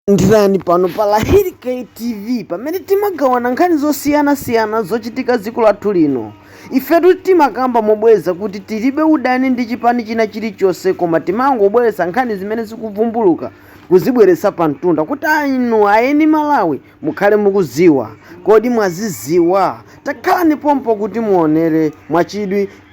Landirani pano pa Lahiri K TV pamene timagawana nkhani zosiyanasiyana zochitika dziko lathu lino. Ifetu timakamba mobwereza kuti tilibe udani ndi chipani china chilichonse koma timangobweretsa nkhani zimene zikuvumbuluka kuzibweretsa pa mtunda kuti inu ayeni Malawi mukhale mukudziwa. Kodi mwazidziwa? Takhalani pompo kuti muonere mwachidwi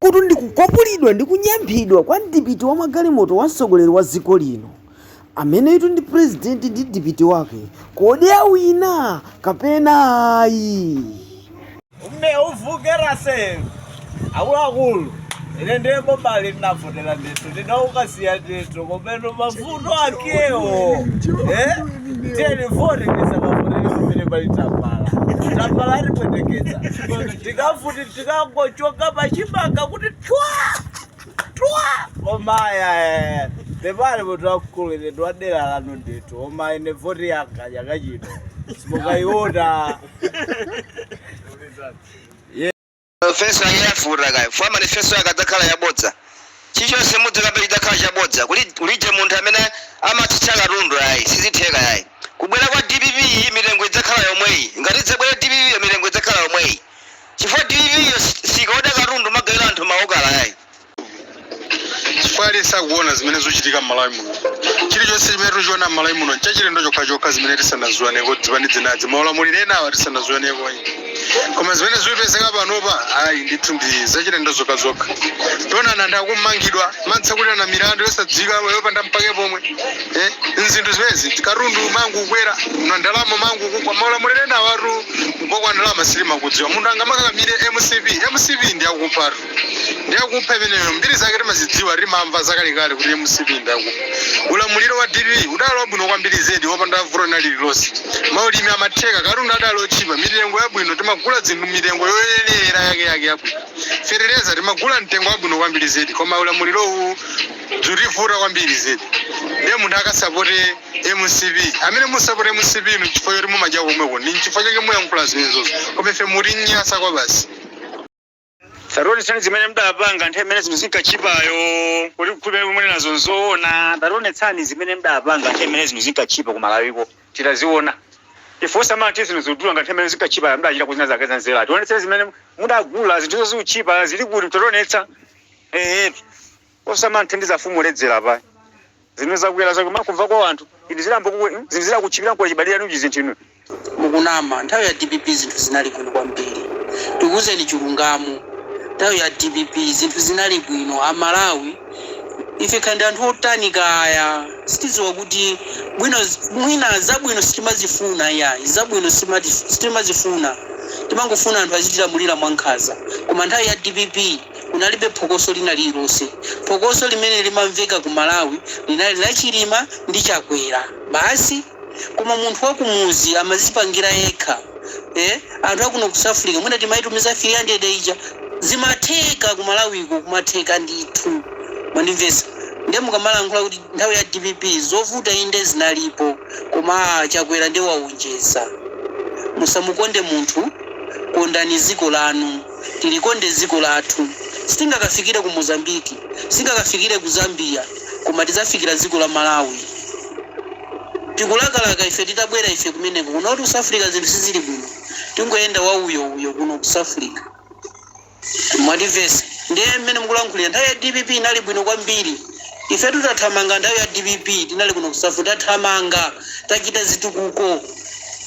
kuti ndikukwapulidwa ndi kunyamphidwa kwa mdipiti wa magalimoto wa mtsogoleri wa dziko lino Ameneyitu ndi president mdipiti wake kodi awina kapena ayi. Ume uvukera se akuluakulu ine ndiye mbobali ndinavotera ndithu ndinaukasiya ndithu komeno mavuto akewo eh? tiyeni vote ndisakavotere pamene pali tambala tambala atipweteketsa tikafuti tikangochoka pachimanga kuti twa omaya eh. pepani munthu wamkulu ine ndiwadera lanu ndithu koma ine voti yanga chaka chino simukayiona feso ayafuta kayo fo manifesto yake adzakhala yabodza chichonse mudzakambe chidzakhala chabodza Kuli- kulije munthu amene amatsitsa katundu ayi sizitheka ayi kubwera kwa dpp iyi mitengo idzakhala yomweyi ngati idzabwera dpp iyo mitengo idzakhala yomweyi chifukwa dpp yo sikaoda katundu kumagawira anthu ma okala yayi. Chifukwa aliyense akuona zimene zuchitika mmalawi muno. Chilichonse chimene tuchiona mmalawi muno nchachilendo chokhachokha zimene tisanaziwoneko dzipani dzinadzi maulamuliro enawa tisanaziwonekoyi. Koma zimene zupezeka panopa ayi ndithu ndi zachilendo zokhazokha. Tiona anthu akummangidwa, kumatsekulirana milandu yosadziwika yopanda mpake pomwe. Eeh nzinthu zimenezi katundu kumangokwera, ndalama kumangokugwa maulamuliro enawatu. Kugwa kwa ndalama sitimakudziwa munthu angamakakamire mcp mcp ndiyakuphatu ndiyakupha imeneyo mbiri zake timazidziwa timamva zakalekale kuti mcp ndiyakupha ulamuliro wa dpp udali wabwino kwambiri zedi wopanda vuto lina lililonse maulimi amatheka katundu adali otchipa mitengo yabwino timagula dzinthu mitengo yoyenera yake yake yabwino fetereza timagula mtengo wabwino kwambiri zedi koma ulamuliro uwu dzutivuta kwambiri zedi ndiye munthu akasapote Mcp amene musapota mcp inu nchifukwa choti mumadyako komweko ndi nchifukwa chake muyankhula zimenezozo koma ife mutinyasa kwabasi. Tationetsani zimene mdapanga nthawi imene zinthu zinkatchipayo kuti tikhulupirire kuti munenazo nzoona. Tationetsani zimene mdapanga nthawi imene zinthu zinkatchipa ku Malawiko titaziona. Ife osamati zinthu zikudula ngati nthawi imene zinkatchipayo mdachitako zina zake za nzeru. Tionetseni zimene mudagula zinthuzo zikutchipa zili kuti mtationetsa. Eetu. osamanthandiza mfumu ledzera apa zimene zakwera zake makumva kwa anthu inu zilambo kuwe zinthu zilakuchipira kwa chibadira nuji zinthu inu mukunama nthawi ya dpp zinthu zinali bwino kwambiri ndikuwuzeni chilungamo nthawi ya dpp zinthu zinali bwino amalawi ife kaya ndi anthu otani kaya sitidziwa kuti bwino mwina zabwino sitimazifuna iyayi zabwino simati- sitimazifuna timangofuna anthu azitilamulira mwankhanza koma nthawi ya dpp Kunalibe phokoso lina lililonse. Phokoso limene limamveka ku Malawi linali la Chilima ndi Chakwera basi. Koma munthu wa kumudzi amadzipangira yekha. Eh, anthu a kuno ku South Africa mwina timaitumiza 300 ija. Zimatheka ku Malawiko kumatheka ndithu. Mwandimvetsa? Ndiye mukamalankhula kuti nthawi ya dpp zovuta inde zinalipo koma aah Chakwera ndiye waonjeza. Musamukonde munthu, kondani dziko lanu. Tilikonde dziko lathu. Sitingakafikire ku Mozambique, sitingakafikire ku Zambia, koma tidzafikira dziko la Malawi. Tikulakalaka ife titabwera ife kumeneko. Kunotu ku Safrica zinthu sizili bwino. Tingoyenda wa uyo uyo kuno ku Safrica. Mwandimvetsa. Ndiye mmene mukulankhulira nthawi ya dpp inali bwino kwambiri. Ifetu tathamanga nthawi ya dpp tinali kuno ku Safri tathamanga, tachita zitukuko.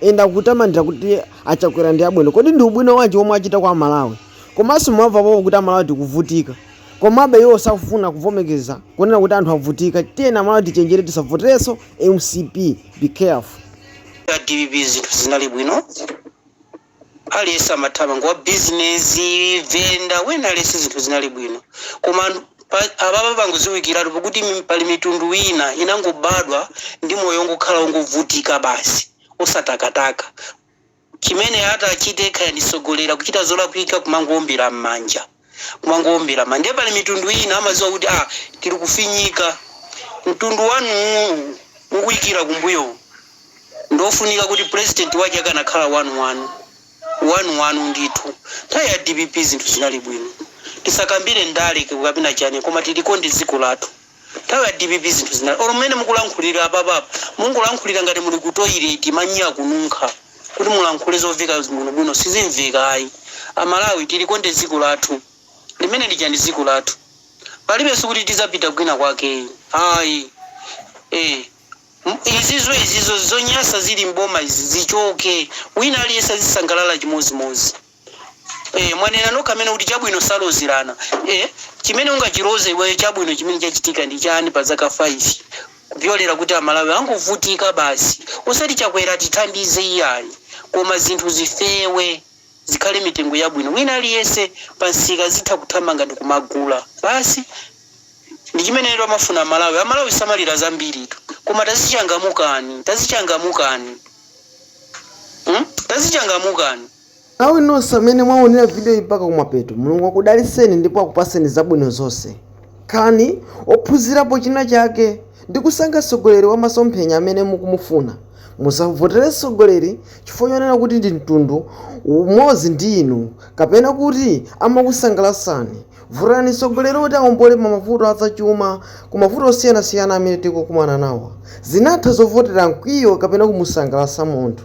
Ena akutamandira kuti a Chakwera ndi abwino. Kodi ndi ubwino wanji omwe achita kwa Amalawi? Komanso mwamva pompo kuti Amalawi tikuvutika. Komabe iwo safuna kuvomekeza kunena kuti anthu avutika. Tiyeni Amalawi tichenjere tisavoterenso mcp. Be careful. A dpp zinthu zinali bwino. Aliyense amathamanga wa business, venda, wina aliyense zinthu zinali bwino koma apapa pangoziwikilatu pakuti pali mitundu ina inangobadwa ndi moyo ongokhala ongovutika basi osatakataka chimene atachite kaya ntsogoleli akuchita zolakwika kumangoombela mmanja. kumangowombera ma ndiye pali mitundu ina amadziwa kuti ah tili kufinyika mtundu wanu uwu mukuikira kumbuyo ndiofunika kuti president wake akanakhala wanuwanu wanuwanu ndithu nthawi ya dpp zinthu zinali bwino tisakambire ndale kapena chani koma tilikonde dziko lathu. Nthawi ya dpp zinthu zinali or mmene mukulankhulira apapa mungolankhulira ngati muli ku toilet manyi akununkha kuti mulankhule zoveka bwino bwino sizimveka ayi amalawi tilikonde dziko lathu limene lija ndi dziko lathu palibenso kuti tidzapita kwina kwake ayi ee izizo izizo zonyasa zili m'boma izi zichoke wina aliyense azisangalala chimodzi modzi. Eh, mwanena nokha amene kuti chabwino salozerana. Eh, chimene ungachiloze iweyo chabwino chimene chachitika ndi chani pa zaka 5 kupyolera kuti Amalawi angovutika basi. Osati Chakwera atithandize iyayi, koma zinthu zifewe zikhale mitengo yabwino wina aliyense pa msika azitha kuthamanga ndi kumagula. Basi ndi chimenetu amafuna Amalawi. Amalawi samalira zambiritu, koma tazichangamukani, tazichangamukani, hmm? tazichangamukani. Amalawi nonse amene mwaonera video yi mpaka kumapeto Mulungu akudaliseni ndipo akupaseni zabwino zonse. Khalani ophunzirapo china chake ndi kusankha tsogoleri wa masomphenya amene mukumufuna. Musavotere tsogoleri chifukwa choonera kuti ndi mtundu umodzi ndi inu kapena kuti amakusangalatsani. Votani mtsogoleri woti awombole m'mavuto a zachuma ku mavuto osiyanasiyana amene tikukumana nawo. Zinatha zovotera mkwiyo kapena kumusangalatsa munthu.